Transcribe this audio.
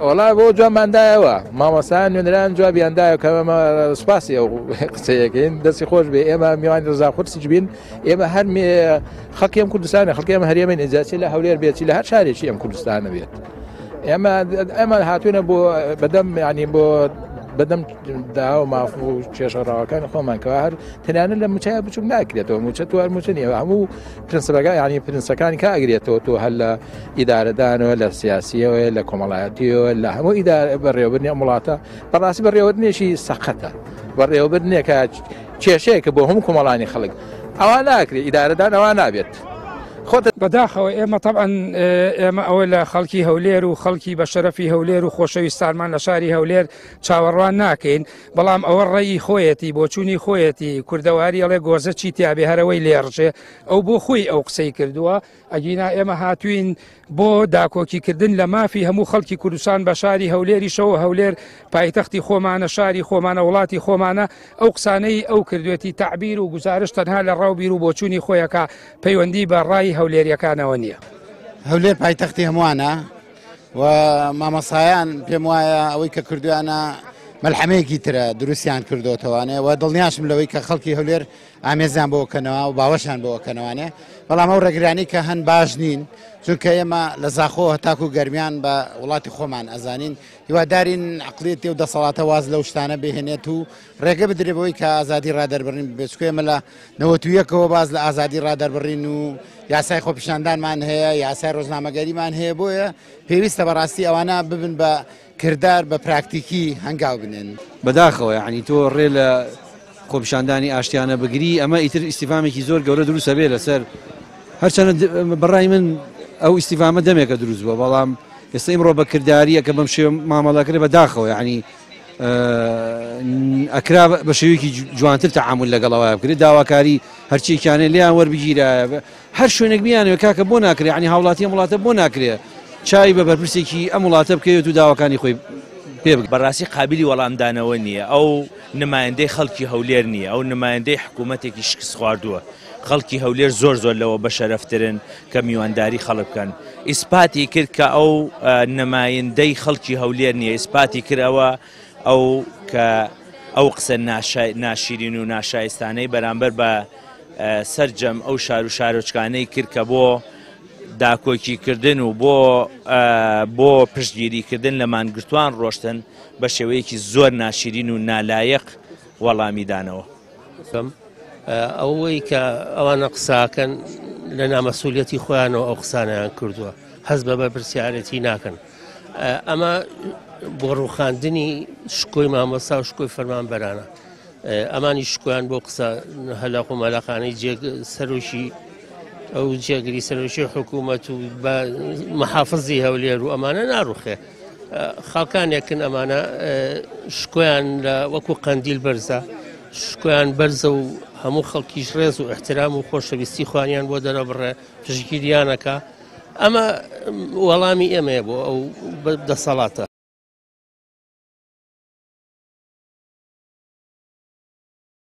وەڵا بۆ جوابمان دایەوە مامۆستایان نوێنەران جوابیان دایە کە سوپاسی ئەو قسەیەکەین دەستی خۆش بێ ئێمە میوانی ڕزا خورسیج بین ئێمە هەر خەکیم کوردستانی خەکێمە هەرێمە نێجاچی لە هەولێر بێتی لە هەر شارێکی ئەم کوردستانە بێت ئێمە ئەمە هاتوونە بۆ بەدەم ینی بۆ بەدەم داوە ماف و کێشەڕاوەکان خۆمانکەوە هەر تەنانە لە مچای بچوک ناکرێتەوە موچە توار موچە نیە هەموو پرنسبەکە یعنی پرنسەکانی کا ئەگرێتەوە تۆ هەر لە ئیدارەدانەوە لە سیاسیەوە لە کۆمەڵایەتیەوە لە هەموو ئیدارە بەڕێوەبرنی وڵاتە بەڕاستی بەڕێوەبرنێکی سەقەتە بەڕێوەبرنێکە کێشەیەکە بۆ هەموو کۆمەڵانی خەڵک ئەوە ناکرێت ئیدارەدان ئەوە نابێت. خۆتە بەداخەوە ئێمە طبعاان ئێمە ئەوە لە خەڵکی هەولێر و خەڵکی بە شەرەفی هەولێر و خۆشەویستانمان لە شاری هەولێر چاوەڕوان ناکەین بەڵام ئەوە ڕێی خۆیەتی بۆچوونی خۆیەتی کوردەواری ئەڵێ گۆزە چی تیاێ هەرەوەی لێڕژێ ئەو بۆ خۆی ئەو قسەی کردووە ئەگینا ئێمە هاتوین بۆ داکۆکیکردن لە مافی هەموو خەڵکی کوردستان بە شاری هەولێری شەوە هەولێر پایتەختی خۆمانە شاری خۆمانە وڵاتی خۆمانە ئەو قسانەی ئەو کردوێتی تعبیر و گزارش تەنها لە ڕاو بیر و بۆچوونی خۆیەکە پەیوەندی بە ڕای هەولێریەکانەوە نییە هەولێر پایتەختی هەمووانە و مامەسایان پێم وایە ئەوەی کە کردویانە مەلحەمەیەکی ترە دروستیان کردوتەوانێ و دڵنیاشم لەوەی کە خەڵکی هەولێر ئامێزیان بۆ کەنەوە و باوەشان بۆ کەنەوانێ بەڵام ئەو ڕێگرانی کە هەن باش نین چونکە ئێمە لە زاخۆ هەتاکو و گەرمیان بە وڵاتی خۆمان ئەزانین هیوادارین عقلێتی و دەسەڵاتە واز لەو شتانە بهێنێت و ڕێگە بدرێت بەوەی کە ئازادی ڕادەربڕین ببێت چکە ئێمە لە نەوەت و یەکەوە باز لە ئازادی ڕادەربڕین و یاسای خۆپیشاندانمان هەیە یاسای ڕۆژنامەگەریمان هەیە بۆیە پێویستە بەڕاستی ئەوانە ببن بە کردار بە پراکتیکی هەنگاو بنێن بەداخەوە یعنی تۆ ڕێ لە خۆپیشاندانی ئاشتیانە بگری ئەمە ئیتر ئیسیفامێکی زۆر گەورە دروستە بێ لەسەر هەرچەنە بەڕای من ئەو ئیسیفامە دەمێکە دروست بووە بەڵام ئێستا ئیمڕۆ بە کردداریە کە بەم شێ مامەڵەکرێ بە داخەوە ینی ئەکرا بە شێوەیەکی جوانتر تەعامل لەگەڵەوە بکرێت داواکاری هەرچێکیانێ لیان وەربگیرایە هەر شوێنێک بیانەوە کاکە بۆ ناکرێت عنی هاوڵاتی وڵاتە بۆ ناکرێت چای بە بەرپرسێکی ئەم وڵاتە بکەوێت و داواکانی خۆی پێ بەڕاستی قابلی وەڵامدانەوە نییە ئەو نمایندەی خەڵکی هەولێر نییە ئەو نمایندەی حکوومەتێکی شکست خواردووە. خەڵکی هەولێر زۆر زۆر لەوە بەشەرەفترن کە میوانداری خەڵک بکەن ئیسپاتی کرد کە ئەو نەمایندەی خەڵکی هەولێر نییە ئیسپاتی کرد ئەوە ئەو کە ئەو قسە ناشیرین و ناشایستانەی بەرامبەر بە سەرجەم ئەو شار و شارۆچکانەی کرد کە بۆ داکۆکیکردن و بۆ بۆ پشتگیریکردن لە مانگرتوان ڕۆشتن بە شێوەیەکی زۆر ناشیرین و نالایەق وەڵامیدانەوە. بکەم ئەوەی کە ئەوانە قساکەن لە نامەسوولەتی خۆیانەوە ئەو قسانیان کردووە هەز بە بەرپرسیارەتی ناکەن ئەمە بۆ ڕوخاندنی شکۆی مامۆستا و شکۆی فەرمان بەرانە ئەمانی شکۆیان بۆ قسە هەلاق و مەلاقانەی جێگ سەرۆکی ئەو جێگری سەرۆکی حکوومەت و محافزی هەولێر و ئەمانە ناڕوخێ خاڵکانێکن ئەمانە شکۆیان لە وەکو قەندیل بەرزە شکۆیان بەرزە و هەموو خەڵکیش ڕێز و احترام و خۆشەویستی خوانیان بۆ دەرەبڕێ پشگیریانەکە ئەمە وەڵامی ئێمەیە بۆ ئەو دەسەڵاتە